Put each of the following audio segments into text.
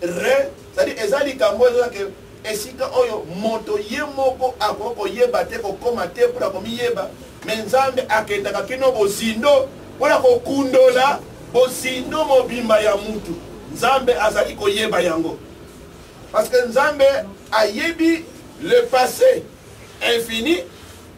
re cetadi eza likambo oyo ezalaka esika oyo moto ye moko akoki koyeba te kokoma te mpo na komiyeba me nzambe akendaka kino bozindo mpo na kokundola bozindo mobimba ya mutu nzambe azali koyeba yango parce que nzambe ayebi le passé infini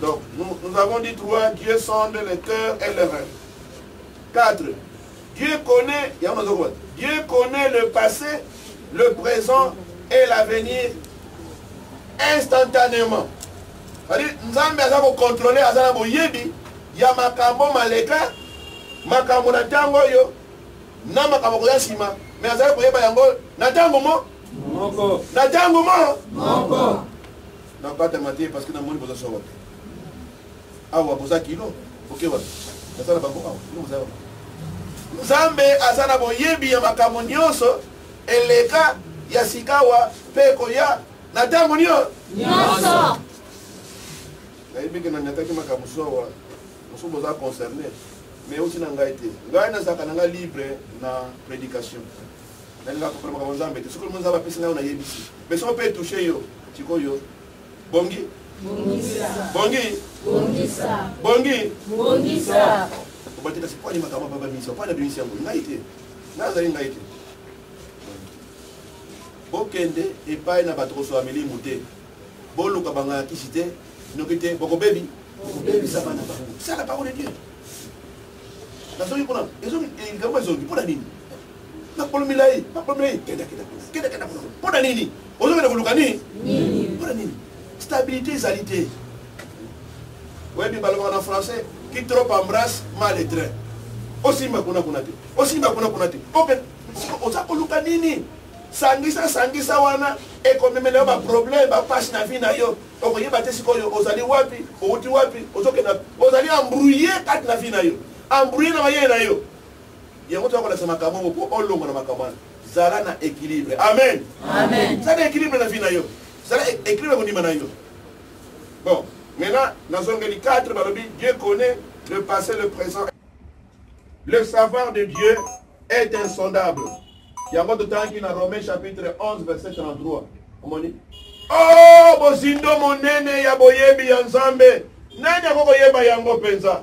Donc, nous, nous avons dit trois, Dieu sonde le cœur et le rêve. Quatre, Dieu connaît, Dieu connaît le passé, le présent et l'avenir instantanément. C'est-à-dire, nous avons contrôlé Azana Boyebi, ya makambo maleka, makambo na tango yo, na makambo koya sima, mais azali koyeba yango na tango mo. Moko. Na tango mo. Moko. Na bata mate parce que na moni boza swa wapi. Awa boza kilo, oke wapi. Naza na bango awa, kilo boza wapi. Nzambe aza na boyebi ya makambo nyonso eleka ya sikawa mpe ekoya na ntango nyonso. Nayebi ke na nyataki makambo sowa, mosusu boza concerne, mais oti na ngai te. Ngai nazalaka na ngai libre na predication. nalingaka kopona makambo nzambe te soki olingi nzambe apesi nayo nayebisi me soki mpe etouche yo sikoyo bongi bongi bongi obatela sipwani makambo baba miso mpona bimisi yango ngai te ngai azali ngai te bokende epai na bato kosola milimu te boluka bango ya kisi te noki te bokobebi bokobebisa bana bango sala parole de dieu nazoki mpona likambo ezongi mpona nini makolo milai makolo milai kenda kenda kenda kenda kuna mpo na nini ozokenda koluka nini mpo na nini stabilité ezali te oyebi balobaka na français qui trop embrasse mal et train osimba kuna kuna te osimba kuna kuna te oza koluka nini sangisa sangisa wana ekomemela yo baproblème bapasi na vie na yo okoyeba te sikoyo ozali wapi outi wapi ozokenda ozali embrouille kati na vie na yo embrouille na mayele na yo yango toya kolakisa makambo yango mpo olongo na makambo wana zala na équilibre amen zala na équilibre na vie na yo zala e-, équilibre kondima na yo bon maintenant nazongeli 4 balobi dieu connaît le passé le présent le savoir de dieu est insondable yango totangaki na romain chapitre 11 verset 33 omoni o oh, bozindo monene ya boyebi ya nzambe nani akokoyeba yango mpenza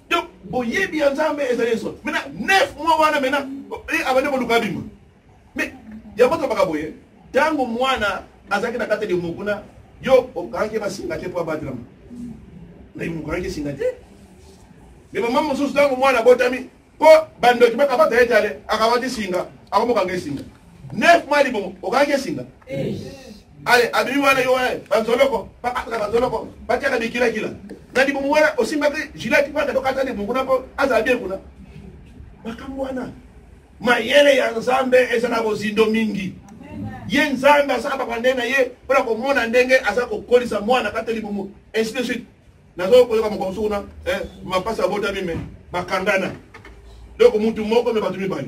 donc boyebi ya nzambe ezali nso mena nef mwa wana mena eh, abandi koluka abima me yango tobaka boye ntango mwana azalaki na kati elimo kuna yo okangaki basinga te mpo abatelama na elimo okangaki esinga te me mama mosusu ntango mwana abotami mpo bandoki bakabata ye tale akabati singa akomokanga esinga nef mwa libomo okangaki esinga eh. ale abimi wana yo wana bazoloko bakataka bazoloko batiaka bikilakila na libumu wana osimbaki jilati mpaka tokata libumu kuna mpo azala bien kuna makambo wana mayele ya nzambe eza na bozindo mingi ye nzambe asala babande na ye mpo na komona ndenge aza kokolisa mwana kata libumu ainsi de suite nazo koyoka moko mosusu kuna eh, mapasi abotami me bakangana donc mutu moko me bato mibale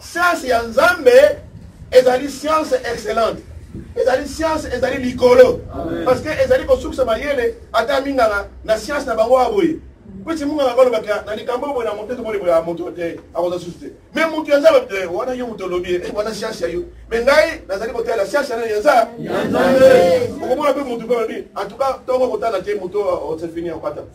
Science ya Nzambe ezali science excellente. ezali science ezali likolo parce que ezali kosukisa mayele ata minganga na science na bango ya boye pesi munganga kolobaka na likambo boye na moto ete molebola ya moto te akoza susu te me moto ya nzambe te wana yo moto olobi eh, wana science ya yo me ngai nazali kotala science yana ya nzambe okomona mpe moto mpe olobi en tout cas ntongo kotala te moto osefini ya kwata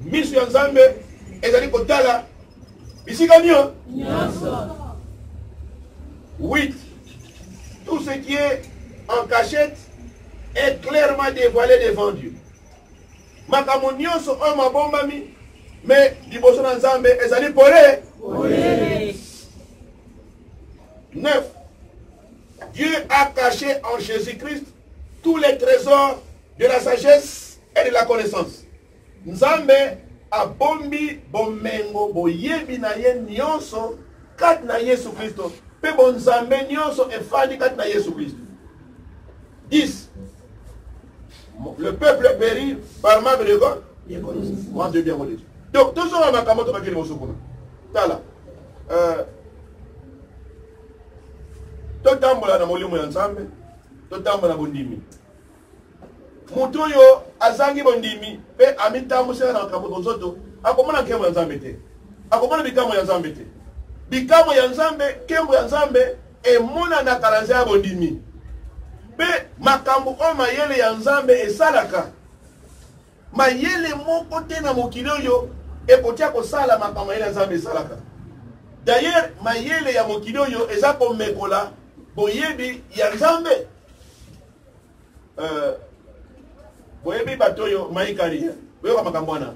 Misu ya Nzambe ezali kotala bisika nio nyonso. 8. Tout ce qui est en cachette est clairement dévoilé devant Dieu. Makambo nyonso oyo mabombami me liboso na Nzambe ezali pole. 9. Dieu a caché en Jésus-Christ tous les trésors de la sagesse et de la connaissance nzambe abombi bomengo boyebi na ye nyonso kati na yesu kristo mpe bonzambe nyonso efandi kati na yesu kristo 10 le peuple péri par manque de quoi manque de bien religieux donc tozonga makambo tobaki liboso kuna tala euh, totambola na molimo ya nzambe totambola na bondimi moto oyo azangi bondimi mpe amitambwisaka na makambo ya bozoto akomona nkembo ya nzambe te akomona bikambo ya nzambe te bikambo ya nzambe nkembo ya nzambe emonanaka na nzela ya bondimi mpe makambo oyo mayele ya nzambe esalaka mayele moko te na mokili oyo ekotya kosala makambo mayele ya nzambe esalaka dayere mayele ya mokili oyo eza komekola boyebi ya nzambe euh, boyebi bato oyo maikari eh? boyoka makambo wana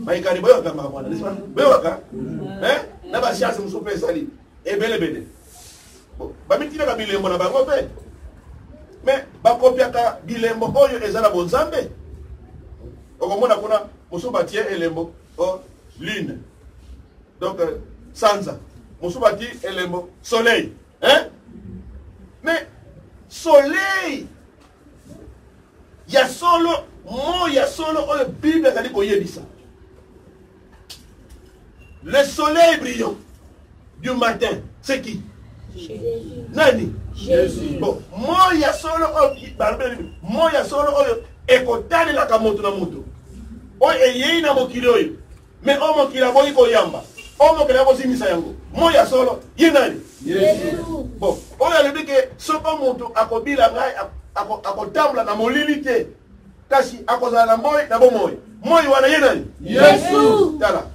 maikari boyokaka makambo wana boyokaka eh? na basianse mosusu mpe ezali ebelebele bamitinaka bilembo na bango mpe me bakopiaka bilembo oyo eza na bonzambe okomona kuna mosusu batie elembo o oh, lune donc euh, sanza mosusu batie elembo soleil hein? mais soleil ya solo mo ya solo oyo bible azali koyebisa le soleil brillant du matin c'est qui nani bon moi ya solo oyo balobeli moi ya solo oyo ekotalelaka moto na moto oyo eyei na mokili oyo me oyo mokili aboyi koyamba oyo mokili akozimisa yango moi ya solo ye nani bon oyo alobi ke soko moto akobila ngai akotambola na molili te kasi akozala na moi na bomoi moi wana ye nani yesu tala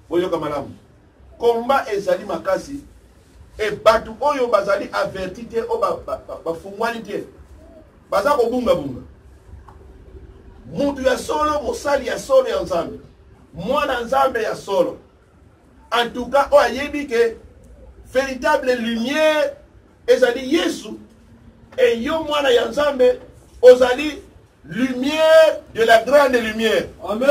boyoka malamu Combat ezali makasi e batu oyo bazali averti te oyo bafungwani te baza kobungabunga. Mutu ya solo, mosali ya solo ya Nzambe, mwana Nzambe ya solo, en tout cas oyo ayebi ke véritable lumière ezali yesu et yo mwana ya nzambe ozali lumière de la grande lumière Amen.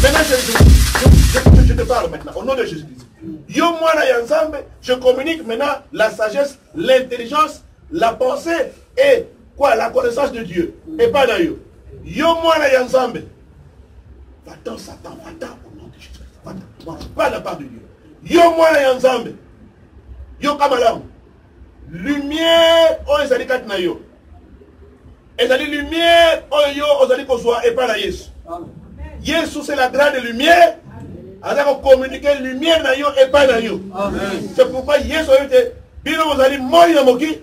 Maintenant, je, je, je, je te parle maintenant au nom de jésus christ yo mwana ya nzambe je communique maintenant la sagesse l'intelligence la pensée et quoi la connaissance de dieu epai na yo yo mwana ya nzambe va-t'en satan va-t'en au nom de jésus va-t'en va la part de dieu yo mwana ya nzambe yoka malamu lumière oyo ezali kati na yo ezali lumière oyo yo ozali kozwa epai na yesu yesu c'est la grande lumière aza kokommunike lumière na yo epai na yo c'est pourquoi yesu ayebi te bino bozali moi na mokili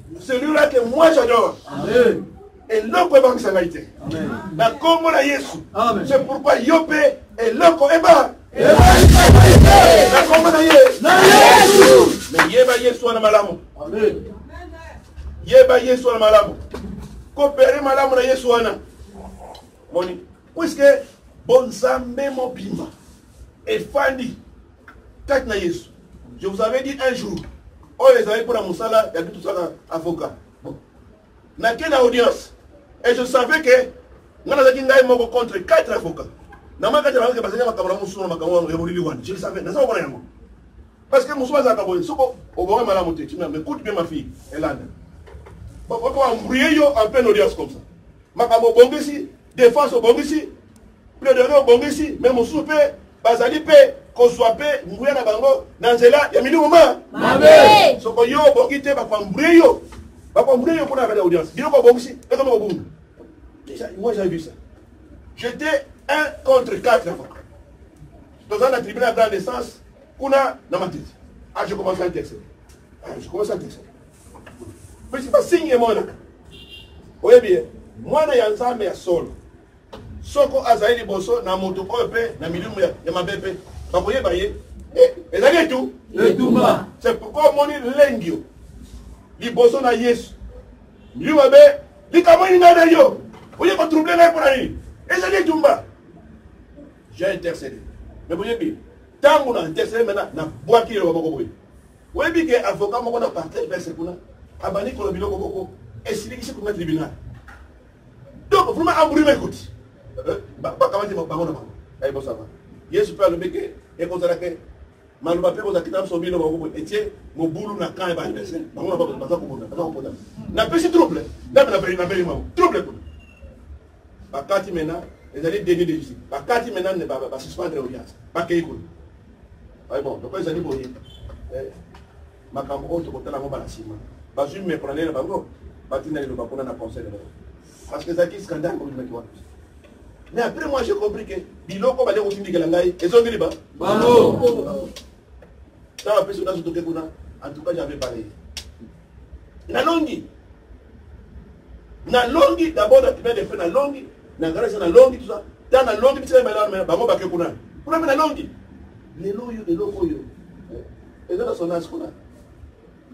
celui là que moi j'adore amen eloko ebangisa ngai te na nkombo na yesu se pourkoi yo mpe eloko eba na nkombo na ye na yesu me yeba yesu wana malamu yeba yesu wana malamu kopere malamu na yesu wana moni puiske bonzambe mobimba efandi kati na yesu je vous avais dit un jour oyo ezali mpo na mosala ya bitu tosalaka avocat nake na audience et je savais que ngai nazalaki ngai moko contre quatre avocats na maka te bazalaki bazali makambo na mosusu na makambo yango ya molili wana je le savais naza komona yango parce que mosusu azalaka boye soko obonga malamu te tina mais coute bien ma fille elanda bakoko embrouille yo en pleine audience comme ça makambo obongisi défense obongisi Plaidoirie obongisi mais mosusu mpe bazali mpe kozwa mpe nguya na bango na nzela ya milimo ma mabe soko yo obongi te bakwambure yo bakwambure yo mpona kati ya audience biloko obongisi ekoma kobunga moi j'ai vu ça j'étais un contre quatre avant toza na tribunal grand essence kuna na matiti ah je commence à texte ah, je commence à texte mais c'est pas signe emonaka oyebi ye mwana ya nzambe ya solo soko azali liboso na moto oyo mpe na milimu ya mabe mpe bakoyeba ye eh, ezali etu etumba se pourkoi omoni lengio liboso na yesu milimu mabe likambo nini ngai na yo oye kotrouble ngai mpo na nini ezali etumba j'ai intercédé me boyebi ntango na intercédé mena nabwaki eloba moko boye oyebi ke avocat moko na partage verse kuna abandi koloba biloko moko esilikisi kuna tribunal donc vraiment amburi na ekoti eh, bakamati bango na bango ayi bosaba yesu mpe alobi ke ekozala ke maloba mpe kozala kita biso bino bango etie mobulu na camp ya baadversaire bango na baza kobunda baza kopota napesi trouble ndambe napeli bango trouble kuna bakati mena ezali deni de justice bakati mena basuspendre audience bakei kuna ayi bon donc ezali boye eh. makambo oyo tokotala yango bala nsima bazwi meprenele na bango batinda liloba kuna na conseil de l'europe parce que ezalaki scandale kobimaki wana mais après moi j'ai compris que biloko bale kotindikela ngai ezongeli ba bango na bapesi nazo toke kuna en tout cas j'avais parlé nalongi nalongi d'abord na tribunal de fait nalongi na grâce nalongi tout ça ta nalongi bitika ebala bango bake kuna kuna mpe nalongi lelo oyo eloko oyo eza na sonage kuna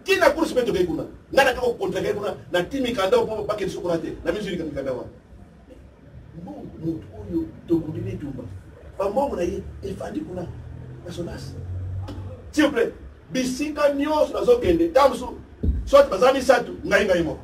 tina course mpe tokei kuna ngai nake kocontrake kuna na ti mikanda oyo mpo bakeli sukuna te na mizulika mikanda wana mbongo motu oyo tokundi bitumba bambongo na ye efandi kuna na sonage silvouplait bisika nyonso nazokende ntango mosusu soit baza misato ngai ngai moko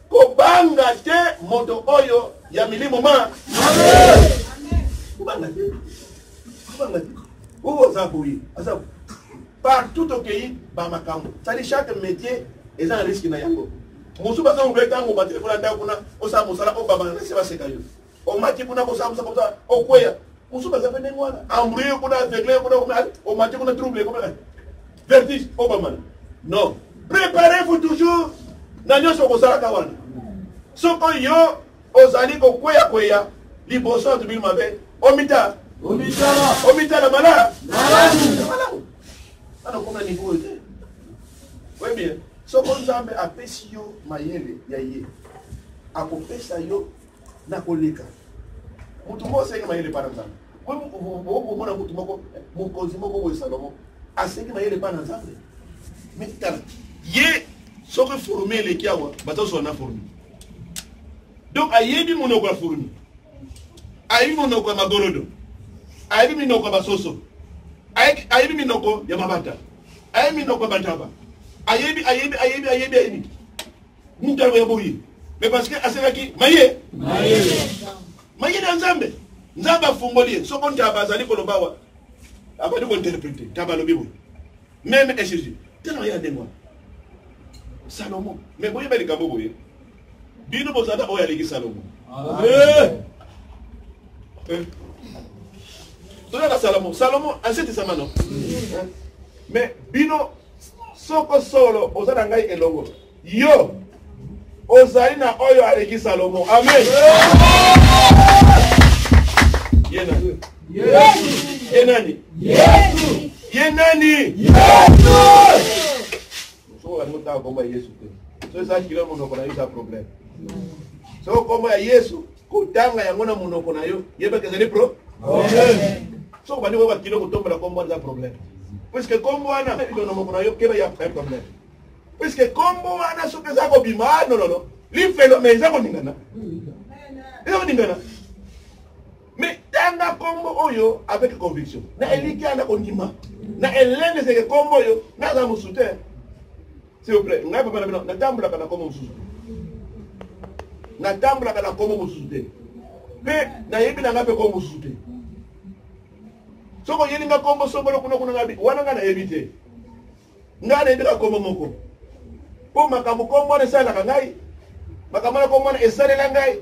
Kobanga te moto oyo ya milimo ma. Kobanga te. Kobanga te. Oyo aza boye, aza partout tokeyi ba makambo. Sali chaque métier eza na risque na yango. Mosusu baza obe tango ba telefona ndako kuna osala mosala obabana na se baseka yo. omati kuna kosambusa kota okweya mosusu baza mpe ndenge wana embrouille kuna aveugle kuna omati kuna trouble kuna vertige obamana non préparez-vous toujours na nyonso okosalaka wana soko yo ozali kokweya kweya liboso ya tobili mabe omita omitala mala malamu ana okoma na niveau oyo te oyebi eh? soko nzambe apesi yo mayele ya ye akopesa yo na koleka moto moko asengi mayele epai na nzambe okomona moto moko mokonzi moko boye salomo asengi mayele epai na nzambe mitala ye soki forme eleki awa bazozwa na forme donc ayebi monoko ya forme ayebi monoko ya magolodo ayebi minoko ya basoso ayebi minoko ya mabata ayebi minoko ya bataba ayebi ayebi ayebi ayebi ayebi mutano ya boye mais parce que asalaki maye maye na nzambe nzambe afungoli ye soko ntaba azali koloba awa abandi kointerprete ntaba alobi boye meme ecg tala maye ya ndenge wana salomo mais boyeba likambo boye bino bozala oyo aleki salomo eh! Eh! toyaka salomo salomo asetisama no eh? mais bino Soko solo oza na ngai elongo. Yo ozali na oyo aleki Salomo. Amen. Ye nani? Yesu. Ye nani? Yesu. Ye nani? Yesu. Soko olingi otanga kombo ya Yesu te. Soki eza kilo monoko na yo eza problème. Soko kombo ya Yesu kotanga yango na monoko na yo yebaka ezali pro soki obandi koyoka kilo kotombola kombo wana eza problème puiske kombo wana ilo na moko na yo keba ya problème puiske kombo wana soki eza kobima ah, nololo lifelo me eza koningana eza koningana mais tanga kombo oyo avec conviction na elikya na kondima na elendeseke kombo oyo naza mosu te S'il vous plaît, ngai papa na bino natambulaka na kombo mosusu. Natambulaka na kombo mosusu te. Mpe nayebi na ngai mpe kombo mosusu te. Soki oyeli ngai kombo songolo kuna kuna ngai wana ngai nayebi te. Ngai nayebi kaka kombo moko. Mpo makambo kombo wana esalelaka ngai, makambo wana kombo wana esalela ngai.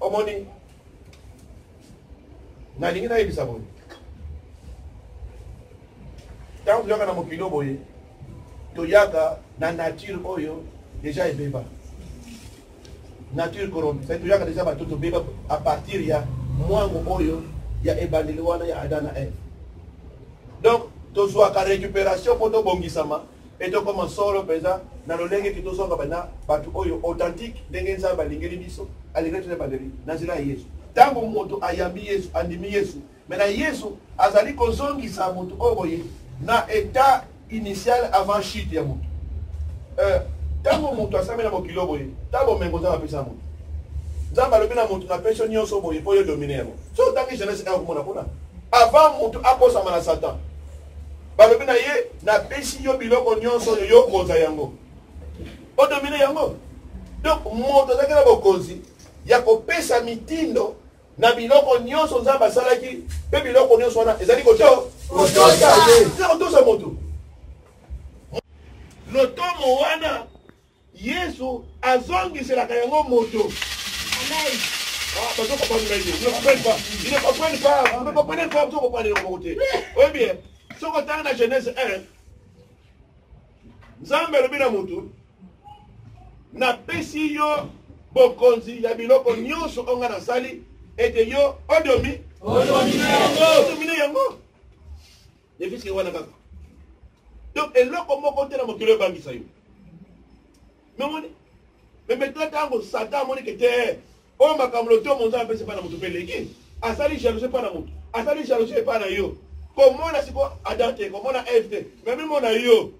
omoni nalingi nayebisa boye ntango toyaka na mokili oyo boye toyaka na nature oyo deja ebeba nature corrompu sai toyaka deja bato tobeba a partir ya mwango oyo ya ebandeli wana ya ada na eve donc tozwaka récupération mpo tobongisama Mpe tokoma solo mpenza na lolenge ete tozonga bana bato oyo authentique, ndenge Nzambe alingeli biso, alingeli biso na ebandeli, na nzela ya Yesu. Ntango moto ayambi Yesu, andimi Yesu, me na Yesu azali kozongisa moto oyo boye na etat initial avant chute ya moto. Euh, ntango moto asami na mokilo boye, ta bomengo Nzambe apesa moto. Nzambe alobi na moto na peso nyonso boye mpo yo domine yango. So otangi Genese 1 okomona kuna. Avant moto akosama na Satan, balobi na ye napesi yo biloko nyonso oyo yo okonza yango odomine yango donc moto azalaki na bokonzi ya kopesa mitindo na biloko nyonso nzambe asalaki mpe biloko nyonso wana ezali kotosa moto lotomo wana Yesu azongiselaka yango moto. Amen. Ah, parce qu'on comprend pas, ils ne comprennent pas. Ils ne comprennent pas. Vous ne comprenez pas, vous ne comprenez pas de côté. Oui, bien. Ce qu'on dans la Genèse 1, Nzambe alobi na mutu napesi yo bokonzi ya biloko nyonso oyo ngai nasali ete yo odomi odomine yango Defisi wana kaka. Donc eloko moko te na mokili ebangisa yo. Memoni. Mais maintenant tango Satan amoni que te oyo makambo lotomo nzambe apesi epai na moto mpe eleki asali jalousie epai na moto asali jalousie epai na yo komona sikoyo adam te komona eve te mais mimona yo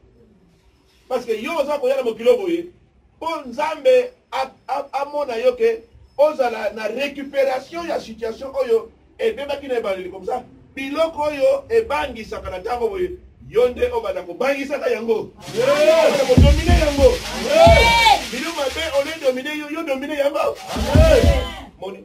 Parce que yo oza koya na mokilo boye mpo Nzambe amona yo ke ozala na récupération ya situation oyo ebebaki na ebandeli comme ça biloko oyo ebangisaka na ntango boye yo nde obanda kobangisaka yango kodomine yango bino mabe ole domine yo yo domine yango moni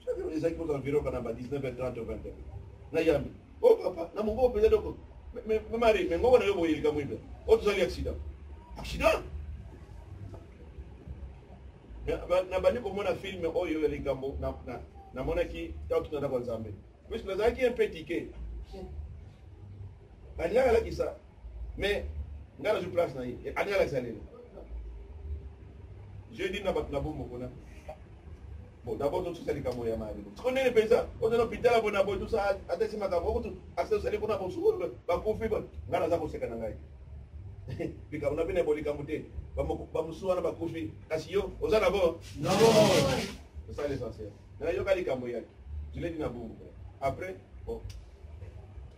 Soki ezalaki kozala environ kana ba 19h30 20h. Na yambi. Oh papa, na mongo mpenza eloko. Mais mari, mais ngoko na yo boye likambo ibe. O tozali accident. Accident? nabandi komona filme oyo ya likambo namonaki ntango tozalaka nzambe puiske nazalaki un peu tike balingaka lakisa mais nga nazwi place na ye ani alakisa lelo je dis na bato na bomoko na bon d'abord tosusa likambo ya maya liboso siko nini mpenza ozana hôpital ya bona boye tosa ata esi makambo okutu asa osali kuna bosukulu bakufi ngai naza koseka na ngai likambo na bino yabo likambo te bamosusu wana bakufi kasi yo oza na bo osala l'essentiel nayoka likambo yaki jiledi na bongo après bon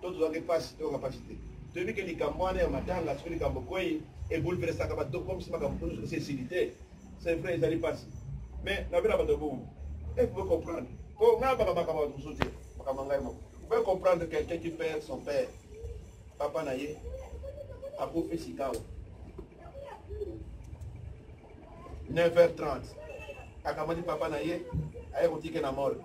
to tozwaki mpasi toyoka mpasi te toyebi ke likambo wana ya matanga soki likambo kwei ebulversaka bato tokomisi makambo kuna soki esili te c'est vrai ezali mpasi mais nabela bato bongo e pouvez comprendre po ngai abaka makambo bato mosusu te makambo ya ngai moko pouvez comprendre quelqu'un qui perd son père papa na ye akufi sikawa 9h30 akamati papa na ye aye kotike na mole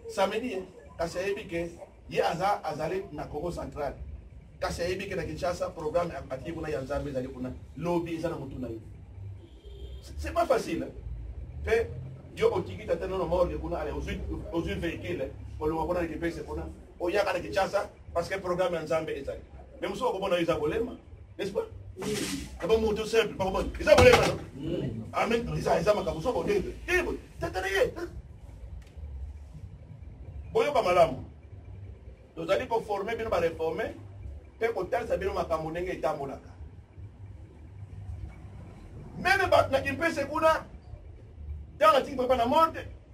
samedi eh, kasi ayebi ke ye aza azali na congo central kasi ayebi ke na kinshasa programme atie kuna ya nzambe ezali kuna lobi eza na motu na ye c'est pas facile mpe yo otiki tata nono morge kuna ale ozwi vehicule olonga kuna na kipese kuna oyaka na kinshasa Parce que programme ya Nzambe ezali. Mais mosusu akomona yo eza kolema, n'est-ce pas? Kaba ah moto simple, bakomona eza kolema. Mm. Amen. Ah, eza eza makambo soko te. Eh, tata na ye. Boyoka malamu. Tozali koforme bino bareforme mpe kotalisa bino makambo ndenge etambolaka. Meme bato na kimpese kuna, ntango atingi papa na morte,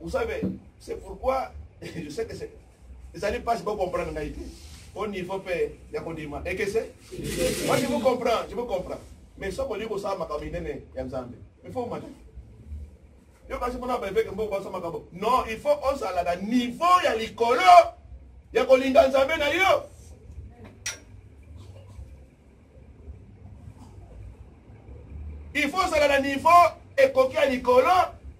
Vous savez, c'est pourquoi je sais que c'est ezali mpasi bocomprendre ngai te au niveau mpe ya kondima ekese moi je vous comprends je vous comprends mais soki olingi kosala makambo minene ya nzambe il faut omata yo kasi mpona baeveke mbo basa makambo non il faut ozala na niveau ya likolo ya kolinga nzambe na yo il faut ozala na niveau ekoki ya likolo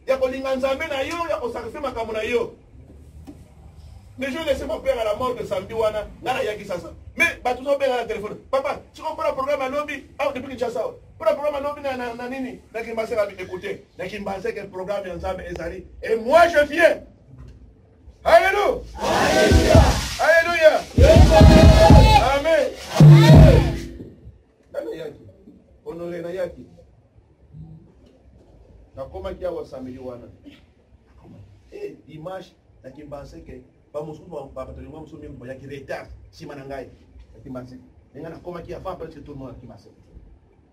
ya kolinga nzambe na yo ya kosakrifie makambo na yo mais je laisse mon père à la mort de samedi wana nga nayaki sasa mais bato ozobenga na telefone papa siko mpona programme ya lobi awa depuis kinshasa awa mpona programme ya lobi na nini na kimbaseka écoute na kimbaseka programme ya nzambe ezali et moi je viens Alléluia. Alléluia. Alléluia. Amen. Tala yaki. Honore na yaki. Nakomaki awa samedi wana. Eh, dimanche nakimbanse ke bamosusu babatoli mwa mosusu mingi bayaki retard nsima na ngai nakimbanse ndenge nakomaki avant presque tout le monde akimbanse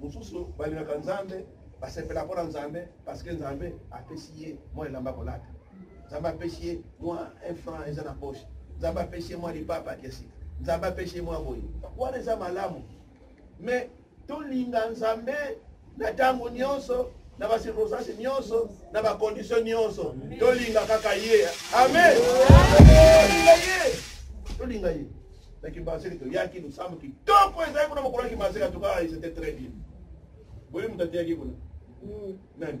mosusu balingaka nzambe basepela mpo na nzambe parceke nzambe apesi ye mwa elamba kolata nzambe apesi ye mwa un franc eza na poche nzambe apesi ye mwa lipapa ya sika nzambe apesi ye mwa boye wana eza malamu mais tolinga nzambe na ntango nyonso na bacirconstance nyonso na bacondition nyonso tolinga kaka ye amen tolinga ye tolinga ye na kimbaseke toyaki losambo kitoko ezali kuna mokolo ya kimbaseke atuka c'était très bien boyebi moto ateyaki kuna hmm. nani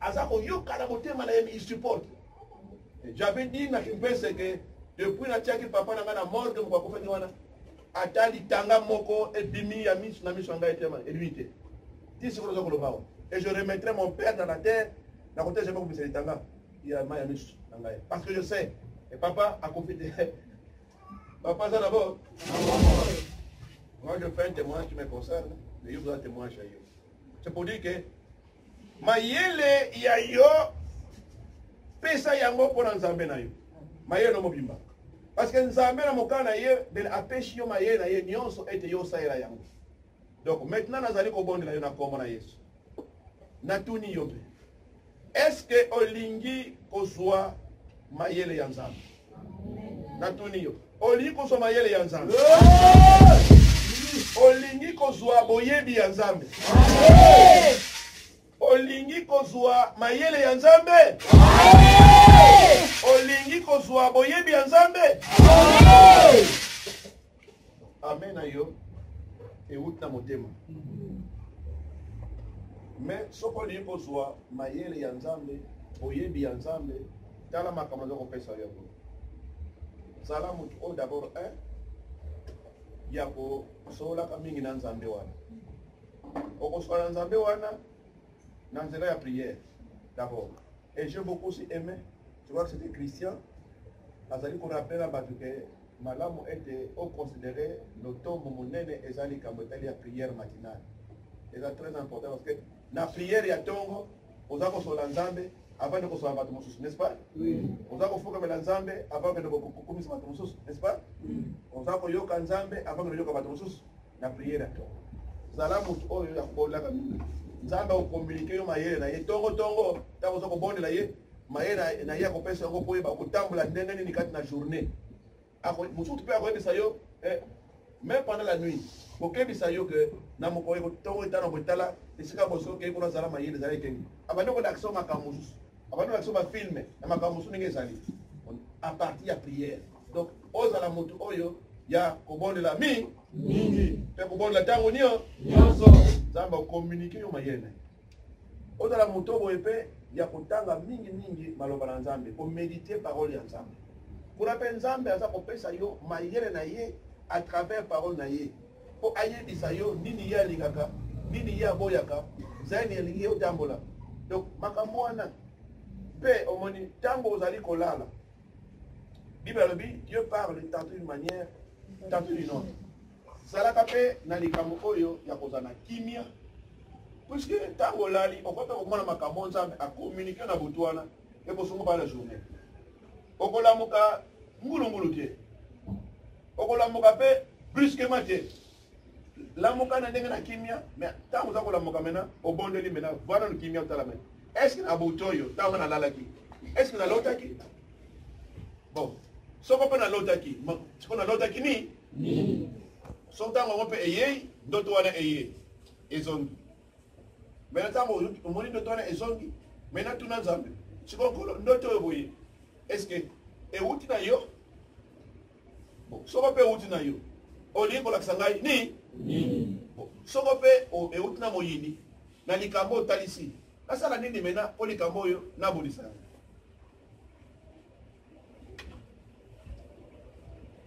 aza koyoka na motema na ye mi support j'avais dit na kimpese ke depuis natiaki papa na ngai na morgue moko akufaki wana ata litanga moko ebimi ya miso na miso ya ngai tema elimi te ti sikoyo oza koloba awa et je remettrai mon père dans la terre na kote jamais kobimisa litanga ya mai ya miso na ngai parce que je sais e papa akufi te papa aza na bo moi je fais un témoignage qui me concerne mais yo oza témoignage ya yo c'est pour dire que mayele ya yo pesa yango mpo na nzambe na yo mayele mobimba parce que nzambe na mokana na ye bele apesi yo mayele na ye nyonso ete yo osalela yango donc maintenant nazali kobondela yo na nkombo na yesu natuni yo mpe Est-ce que olingi kozwa mayele ya Nzambe? Natuni yo. Olingi kozwa mayele ya Nzambe? Olingi kozwa boyebi ya Nzambe? Olingi kozwa mayele ya Nzambe? Olingi kozwa boyebi ya Nzambe? amen na yo euti na motema me soki olingi kozwa mayele ya nzambe boyebi ya nzambe tala makambo aza kopesa yo yango zala motu oyo dabord un ya kosololaka mingi na nzambe wana okosola na nzambe wana na nzela ya prière dabord et je beaucoup si aimé Je crois que c'était Christian. Azali ko rappeler bato ke malamu ete o considérer lotombo monene eza likambo etali ya prière matinale. Eza très important parce que na prière ya tongo oza kosola Nzambe avant de kosola bato mosusu, n'est-ce pas? Oui. Oza kofukamela Nzambe avant de kokumisa bato mosusu, n'est-ce pas? Oui. Oza koyoka Nzambe avant de koyoka bato mosusu. na priere ya tongo zala moto oyo ya kolaka mingi nzambe akokomunike yo mayele na ye ntongo ntongo ntango oza kobondela ye mayele na ye akopesa yango mpo yeba kotambola ndenge nini kati na journée mosusu mpe akoyebisa yo eh, même pendant la nuit kokebisa yo ke na mokolo ntongo etano kotala esika boso okei kuna zala mayele ezali ekenge abandi kolakisa yo makambo mosusu abandi kolakisa yo bafilme na makambo mosusu ndenge ezali a partir ya prière donc ozala motu oyo ya kobondela mi mingi mpe kobondela ntango nio nyonso nzambe akomunike yo mayele ozala motu oboye mpe ya kotanga mingi mingi maloba na nzambe komedite parole ya nzambe kuna mpe nzambe aza kopesa yo mayele na ye à travers parole na ye mpo ayebisa yo nini ye alingaka nini ye aboyaka zani elingi ye otambola donc makambo wana mpe omoni ntango ozali kolala bible alobi dieu parle tantôt d'une manière tantôt d'une autre zalaka mpe na likambo oyo ya kozala na kimia puiske ntango olali okoki mpe komona makambo nzambe akomunike na butu wana ekosongo bana journée okolamuka ngulungulu te okolamuka mpe brusquement te lamuka na ndenge na kimia me ntango oza kolamuka mena obondeli mena vana no kimia otala mena eske na buto oyo ntango nalalaki eske nalotaki bon soko mpe nalotaki soko nalotaki nini so ntango yango mpe eyei ndoto wana eyei ezongi mena ntango omoni ndoto wana ezongi mena tuna nzambe sikoyo nkolo ndoto oyo boye eske euti na yo soko mpe euti na yo olingi kolakisa ngai nini soko mpe euti na moyini na likambo oyo otalisi nasala nini mena mpo likambo oyo nabonisa yango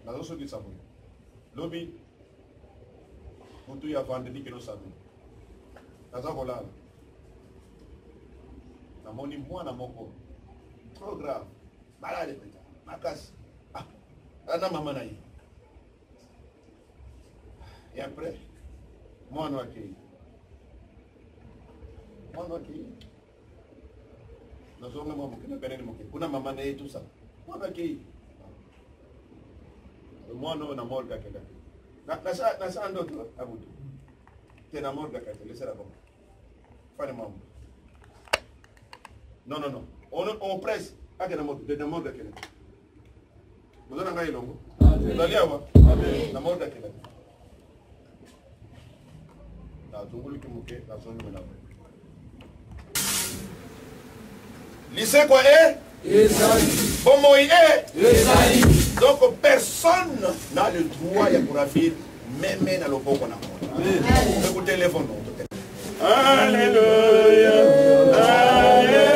nazosukisa boye lobi motu ya vandredi kino samedi naza kolala namoni mwana moko trop grave malade mpenza makasi ah, ana mama na ye e après mwana akei mwana akei nazonga mwa moke nabenani moke kuna mama na ye tusa mwana akei mwana oyo na morga akendaki nasala ndoto na butu te na morga kati lesela bango Fane mamu. Non, non, non. On, on presse. Akena moto, de demande akena. Bozo na ngai elongo. Ozali awa? Na mode akena. Na zungulu ki moke, na zungulu na mwe. Lisekwa e? Eh? bomoi e donc personne n'a le droit ya koravir meme na loboko na moto ekotelefone Alléluia, Alléluia.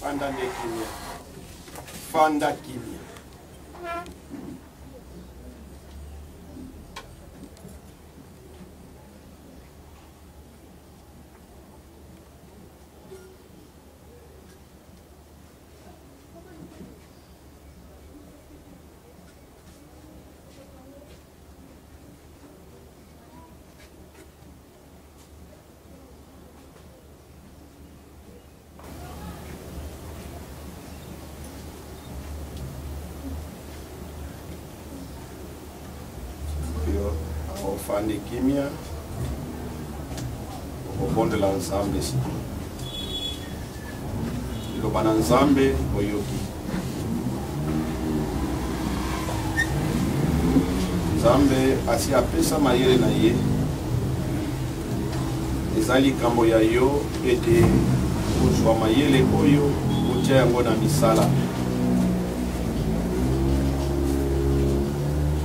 fanda nde kimia fanda kimia ofandi kimia okobondela nzambe sikoyo Liloba na Nzambe oyoki. Nzambe asi apesa mayele na ye. Eza likambo ya yo ete kozwa mayele oyo otya yango na misala.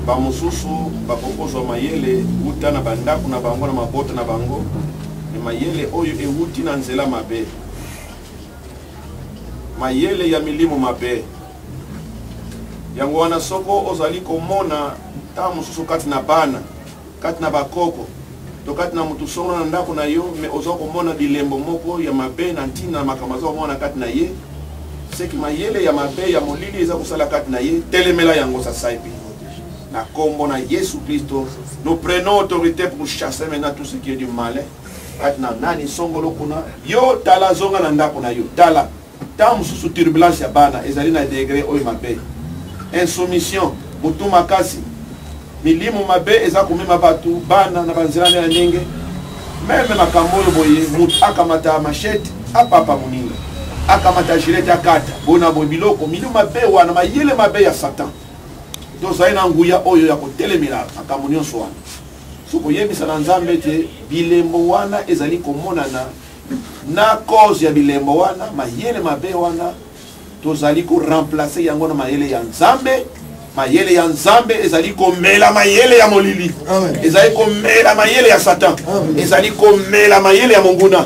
bamosusu bakokozwa mayele uta na bandako na bango na mabota na bango Mais mayele oyo ewuti na nzela mabe. Mayele ya milimo mabe. Yango wana soko ozali komona ntango mosusu kati na bana, kati na bakoko, to kati na moto solo na ndako na yo, me oza komona bilembo moko ya mabe na ntina na makambo aza komona kati na ye, seki mayele ya mabe ya molili eza kosala kati na ye, telemela yango sasaipi. Na kombo na Yesu Klisto, nous prenons autorité pour chasser maintenant tout ce qui est du malin. kati na nani songolo kuna yo tala zonga na ndako na yo tala ntango mosusu turbulence ya bana ezali na degre oyo mabe insoumission motu makasi milimo mabe eza komema bato bana na banzela nde ya ndenge meme makambo oyo boye motu akamata machete apapa moninga akamata gilete akata bona boye biloko milimo mabe wana mayele mabe ya satan tozali na nguya oyo ya kotelemela makambo nyonso wana so koyebisa na nzambe ete bilembo wana ezali komonana na cause ya bilembo wana mayele mabe wana tozali koremplace yango na mayele ya nzambe mayele ya nzambe ezali komela mayele ya molili ezali komela mayele ya satan ezali komela mayele ya monguna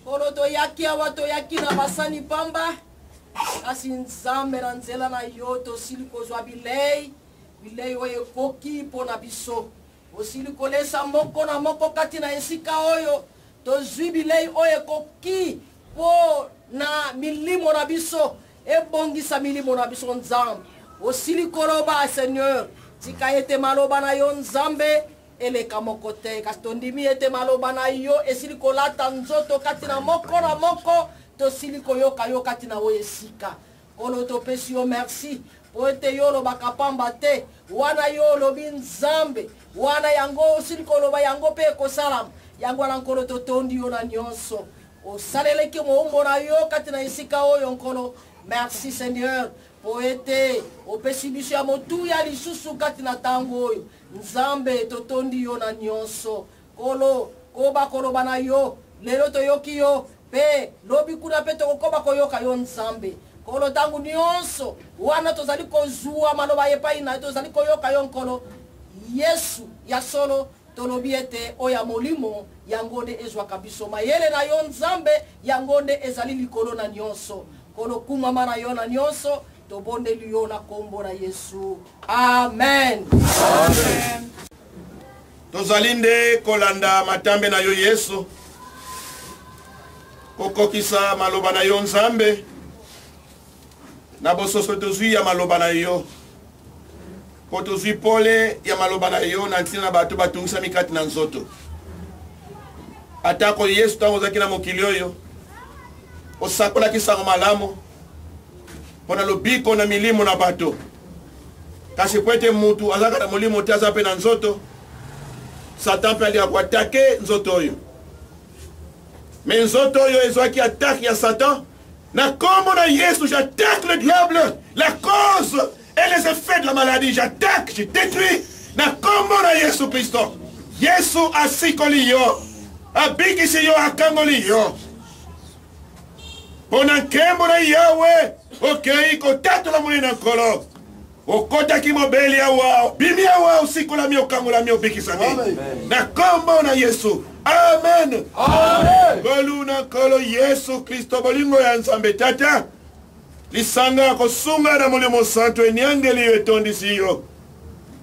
Nkolo, toyaki awa, toyaki na basani pamba, kasi Nzambe, na nzela na yo tosili kozwa bilei, bilei oyo ekoki mpo na biso. Osili kolesa moko na moko kati na esika oyo, tozwi bilei oyo ekoki mpo na milimo na biso, ebongisa milimo na biso, Nzambe. Osili koloba, Seigneur, tika ete maloba na yo, Nzambe, eleka moko te kasi tondimi ete maloba na yo esili kolata nzoto kati na moko na moko tosili koyoka yo kati na oyo esika nkolo topesi yo merci mpo ete yo olobaka pamba te wana yo olobi nzambe wana yango osili koloba yango mpe ekosalama yango wana nkolo totondi yo na nyonso osaleleki moumbo na yo kati na esika oyo nkolo merci seigneur mpo ete opesi biso ya motuya lisusu kati na ntango oyo Nzambe totondi yo na nyonso. Kolo, koba koloba na yo. Lelo toyoki yo, pe lobi kuna pe tokokoba koyoka yo Nzambe. Kolo, ntango nyonso wana tozali kozua maloba epai na yo, tozali koyoka yo Nkolo. Yesu, ya solo, tolobi ete oyo ya molimo yango nde ezwaka biso mayele na yo nzambe yango nde ezali likolo na nyonso kolokumama na yo na nyonso tobondeli yo na nkombo na yesu amen, amen. tozali nde kolanda matambe na yo yesu kokokisa maloba na yo nzambe na bososo tozwi ya maloba na yo mpo tozwi pole ya maloba na yo na ntina na bato batungisami kati na nzoto atako yesu ntango ozalaki na mokili oyo osakolaki sango malamu mpo na lobiko na milimo na bato kasi mpo ete mutu azalaka na molimo te aza mpe na nzoto satan mpe alingaka koatake nzoto oyo me nzoto oyo ezwaki atake ya satan na nkombo na yesu j'attaque le diable la cause et les effets de la maladie j'attaque je détruis na nkombo na yesu kristo yesu asikoli yo abikisi yo akangoli yo mpo na nkembo na yawe okei kotatola monene na nkolo okotaki mobeli awa obimi awa osikolami okangolami obikisami na nkombo na yesu amen ngolu na nkolo yesu kristo bolingo ya nzambe tata lisanga ya kosunga na molimo santu eniangeli yo etondisi yo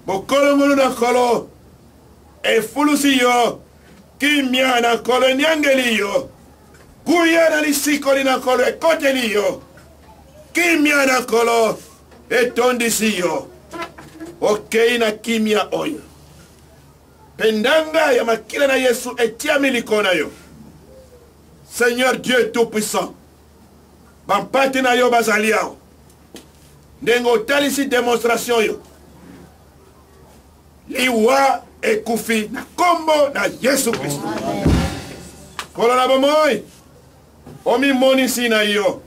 bokolongolu na nkolo efulusi yo kimia na nkolo eniangeli yo Kuya na lisiko lina Nkolo ekoteli yo. Kimia na Nkolo etondisi yo. Okei na kimia oyo. Mpe ndanga ya makila na Yesu etiami likolo na yo. Seigneur Dieu Tout-Puissant, bampate na yo bazali awa. Ndenge otalisi demonstration oyo. liwa ekufi na nkombo na yesu kristo kolo na bomoi omimonisi na yo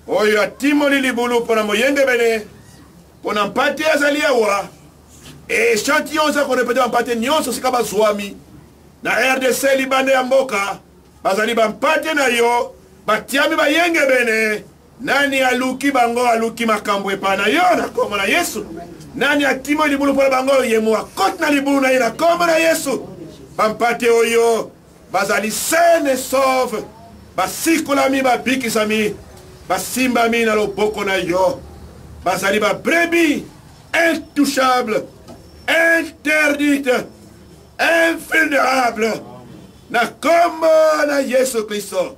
oyo atimoli libulu mpo na moyengebene mpo na mpate azali awa echantillo oza korepete bampate nyonso sika bazwami na rdc libanda ya mboka bazali bampate na yo batiami bayengebene Nani aluki bango aluki makambo epai na yo na nkombo na Yesu. Nani akimi libulu mpo na bango ye mo akoti na libulu na ye na nkombo na Yesu. Bampate oyo bazali saine et sauve basikolami babikisami basimbami na loboko na yo bazali babrebi intouchable interdite invulnerable na nkombo na yesu kristo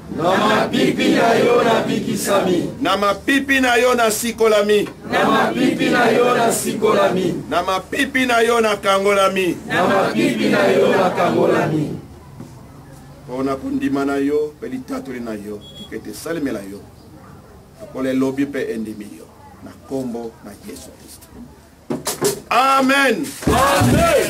Na mapipi na yo nabikisami. Na mapipi na yo nasikolami. Na mapipi na yo nasikolami. Na mapipi na yo nakangolami. Na mapipi na yo nakangolami. mpo na kondima na yo mpe litatoli na yo tika ete esalemela yo lokola elobi mpe endimi yo na nkombo na yesu kristo amen, amen.